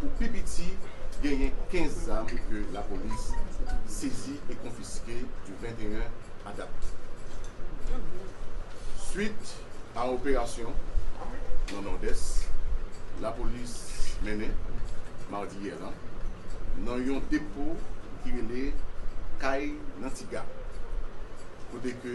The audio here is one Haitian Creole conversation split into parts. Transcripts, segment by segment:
pou pi piti genyen 15 zam ke lapolis sezi e konfiske du 21 a dat. Swit a operasyon nan Nòdès lapolis mennen madi yè lan nan yon depo ki rele Kay Nantiga kote ke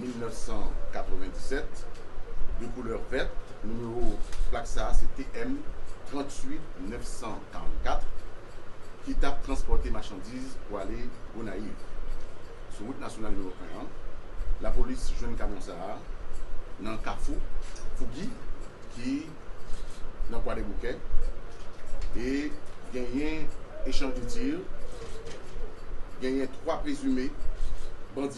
1997, de koulè vèt, nimewo plak sa se TM 38 944, ki tap transpòte machandiz pou ale Gonayiv. Sou wout nasyonal nimewo 1 an, lapolis jwenn kamyon sa a nan kafou Fougi ki nan Kwadèboukè e genyen echanj de tir, genyen 3 prezime bandi.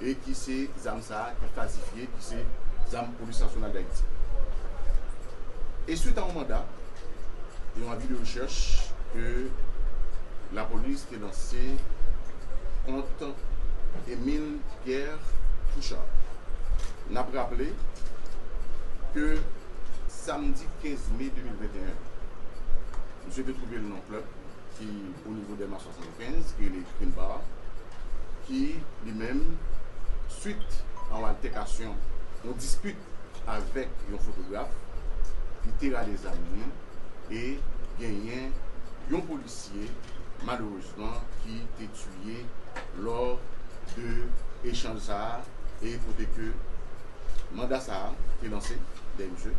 e ki se zam sa a ki fazifye ki se zam polis nasyonal dayiti e swit a yon manda yon avi de rechèch ke lapolis te lanse kont Emile Pierre Touchard n ap raple ke samdi 15 me 2021 misye te twouve l nan yon klèb ki onivo dèlma 70 Prince Greeley Dunbar ki li menm swit a yon altèkasyon, yon dispit avèk yon fotograf, li te rale zam li e genyen yon polisye malerezman ki te tiye lò de echanj sa a e kote ke Manda sa a te lanse dèyè misye.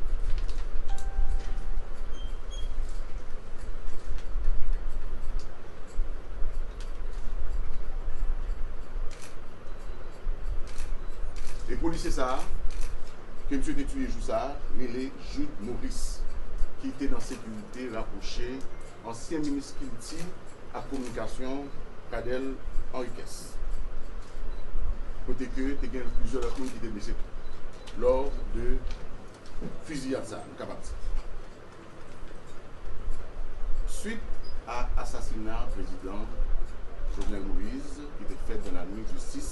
E polisye sa a ke misye te tiye jou sa a rele Jude Maurice ki te nan sekirite rapwoche. Ansyen minis kilti ak kominikasyon Cadel Henriquez. Kote ke te gen plizyè lòt moun ki te blese tou lò de fiziyad sa a nou kapab di. Swit a asasina prezidan Jovenel Moïse ki te fèt dan lanwit du 6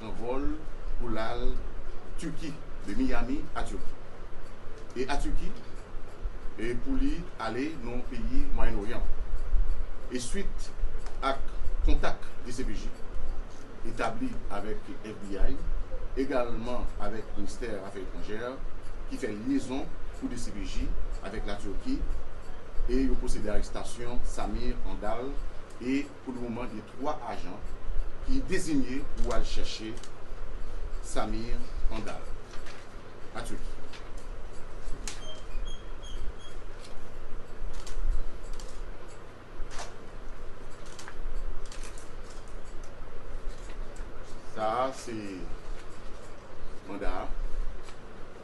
Pran vòl pou l al Turki, de Miami a Turki, e a Turki e pou li ale nan peyi Mwayen Oryan e swit ak kontak dcpj etabli avèk FBI egalman avèk Ministè Afè Etranjè ki fè lyezon pou dcpj avèk la Turki e yo pwosede arestasyon Samir Handal e Pou le moman gen 3 ajan ki dezinye pou al chèche Samir Handal an Turki. Sa a se manda a.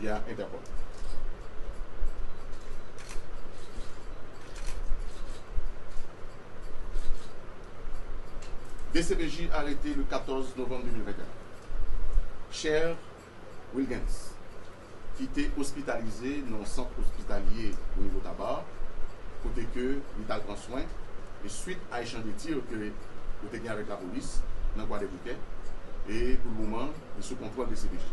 Ya entèkòm. Dcpj arete le 14 novanm 2021 Chè Wilgens ki te ospitalize nan yon sant ospitalye onivo Taba kote ke li tal pran swen e swit a echanj de tir ke yo te gen avèk lapolis nan Kwadèboukè e pou le moman e sou kontwòl dcpj.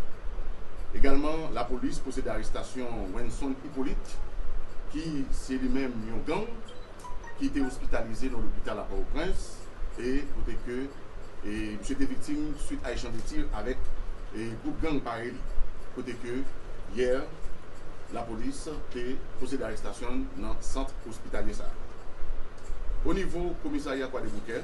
Egalman, lapolis pwosede arestasyon Wenson Hyppolite ki se li menm yon gang ki te ospitalize nan lopital a Pòtoprens e kote ke misye te viktim swit a echanj de tir avèk gwoup gang parèy li, kote ke yè lapolis te pwosede arestasyon l nan sant ospitalye sa a. Onivo komisarya Kwadeboukè,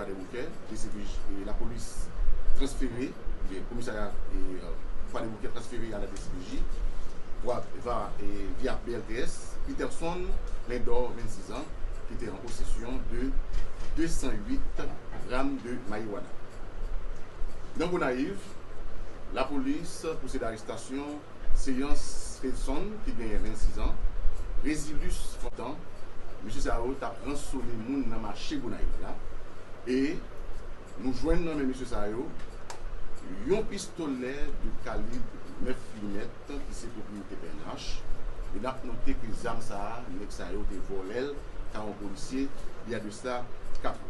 Gade Bouke, Jesifrij e lapolis transfere, oubyen komisarya Fwa de Bouke transfere a la DCPJ, Bwa va e via BLTS, Peterson Lindor 26 ans, ki te an posesyon de 208 gram de marijuana. Nan Gonayiv, lapolis pwosede arestasyon. Seyans Fredson ki genyen 26 an, Resilus Fontan, mesye sa yo tap ransone moun nan mache Gonayiv la e nou jwenn nan men mesye sa yo yon pistolè de kalib 9 limèt ki se pwopriyete pnh e nap note ke zam sa a nèg sa yo te vòlèl ka yon polisye li a de sla 4 an.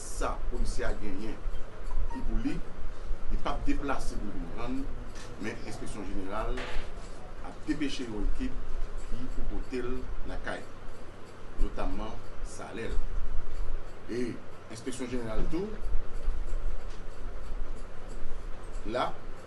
Sa polisye a genyen ki pou li, li pap deplase pou vin pran l, men enspeksyon jeneral ap depeche yon ekip ki pou pote l lakay li, notamman salè l. E enspeksyon jeneral tou la.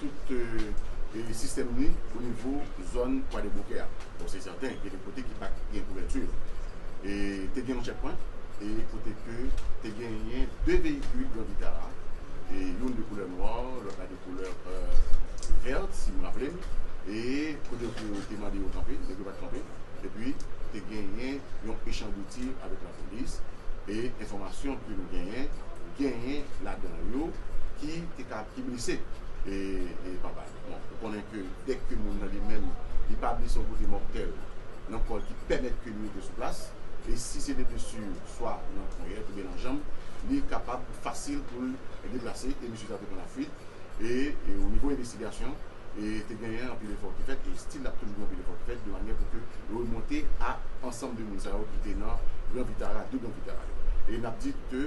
tout sistèm li o nivo zòn Kwadèboukè a. Bon se sèten gen de kote ki pa t gen kouvèti. E te gen yon chèkpwent e kote ke te genyen 2 veyikil Gran Vitara, youn de koulè nwa, lòt la de koulè vèt si m raple m. E kote ke yo te mande yo kanpe, nèg yo pa t kanpe. Epi te genyen yon echanj de tir avèk lapolis e enfòmasyon ke nou genyen, genyen ladan yo ki te. Ap ki blese e papa li. Bon ou konnen ke dèk ke moun nan li menm li pa blese yon kote mòtèl nan kò l ki pèmèt ke li rete sou plas e si se de blesu swa nan ponyèt oubyen nan janm li kapab fasil pou l deplase e misye sa te pran lafuit e o nivo envestigasyon e te genyen anpil efò ki fèt e stil ap toujou gen anpil efò ki fèt de manyè pou ke remonte a ansanm de moun sa yo ki te nan gran vitara 2 gran vitara yo e n ap di ke.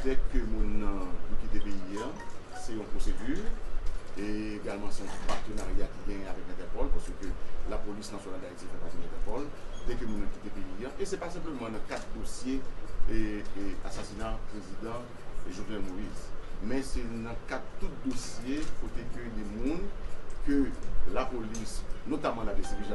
Dèk ke moun nan pou kite peyi an, se yon pwosedi, e egalman se yon patenarya ki genyen avèk Entèpòl, paske lapolis nasyonal Dayiti fè pati Entèpòl, dèk ke moun nan kite peyi an, e se pa senpleman nan kad dosye asasina prezidan Jovenel Moïse, men se nan kad tout dosye kote ke gen moun ke lapolis, notaman la dcpj,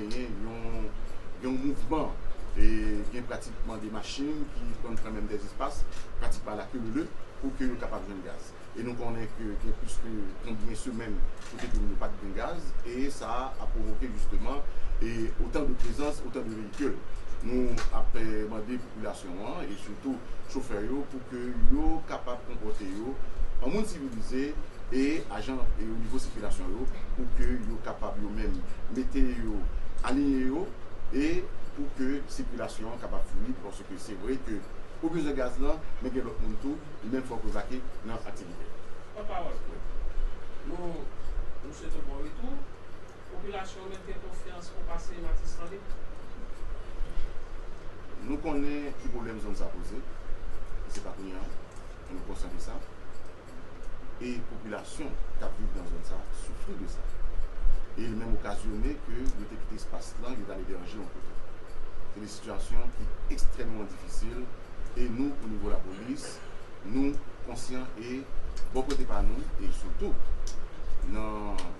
Genyen yon mouvman e gen pratikman 2 machin ki konn pran menm 2 espas, pratikman alakelele, pou ke yo kapab jwenn gaz. E nou konnen ke gen plis ke konbyen semèn kote ke yo pat gen gaz e sa a pwovoke jisteman e otan de prezans, otan de veyikil. Nou ap mande popilasyon an e sitou chofè yo pou. ke yo kapab konpòte yo an moun sivilize e ajan e o nivo sikilasyon yo pou ke yo kapab yo menm mete yo aliyen yo e pou ke sikilasyon an kapab fluid paske se vre ke ou bezwen gaz lan men gen lòt moun tou li menm fòk yo vake nan aktivite. Pòt pawòl. Nou nou swete w bon retou. Popilasyon an mèt gen konfyans o pase Matis Fanik. Nou konnen ki pwoblèm zòn sa poze, e se pa kounya, e nou konsyan de sa. E popilasyon k ap viv nan zòn sa soufri de sa. E li menm okazyone ke yo te kite espas lan, yo t al eberje yon kote. Se de sitiyasyon ki ekstrèmman difisil, e nou o nivo lapolis, nou konsyan e bò kote pa nou, e sitou nan.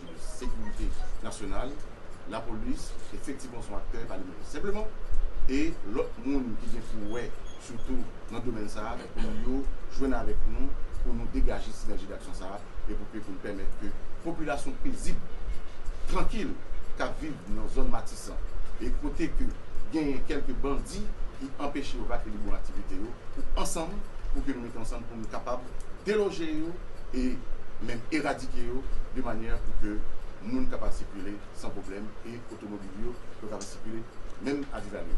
Sekirite nasyonal, lapolis, efektivman son aktè pa li menm senpleman, e lòt moun ki gen pou wè sitou nan domèn sa pou yo jwenn avèk nou pou nou degaje sinèji daksyon sa e pou ke pou n pèmèt ke popilasyon pezib, trankil k ap viv nan zòn Matisan e kote ke genyen kèlke bandi ki anpeche yo vakilibre aktivite yo pou ansanm pou ke nou. mete ansanm pou nou kapab deloje yo e menm eradike yo de manyè pou ke moun kapab sikile san pwoblèm e otomobil yo yo kapab sikile menm a Divalye.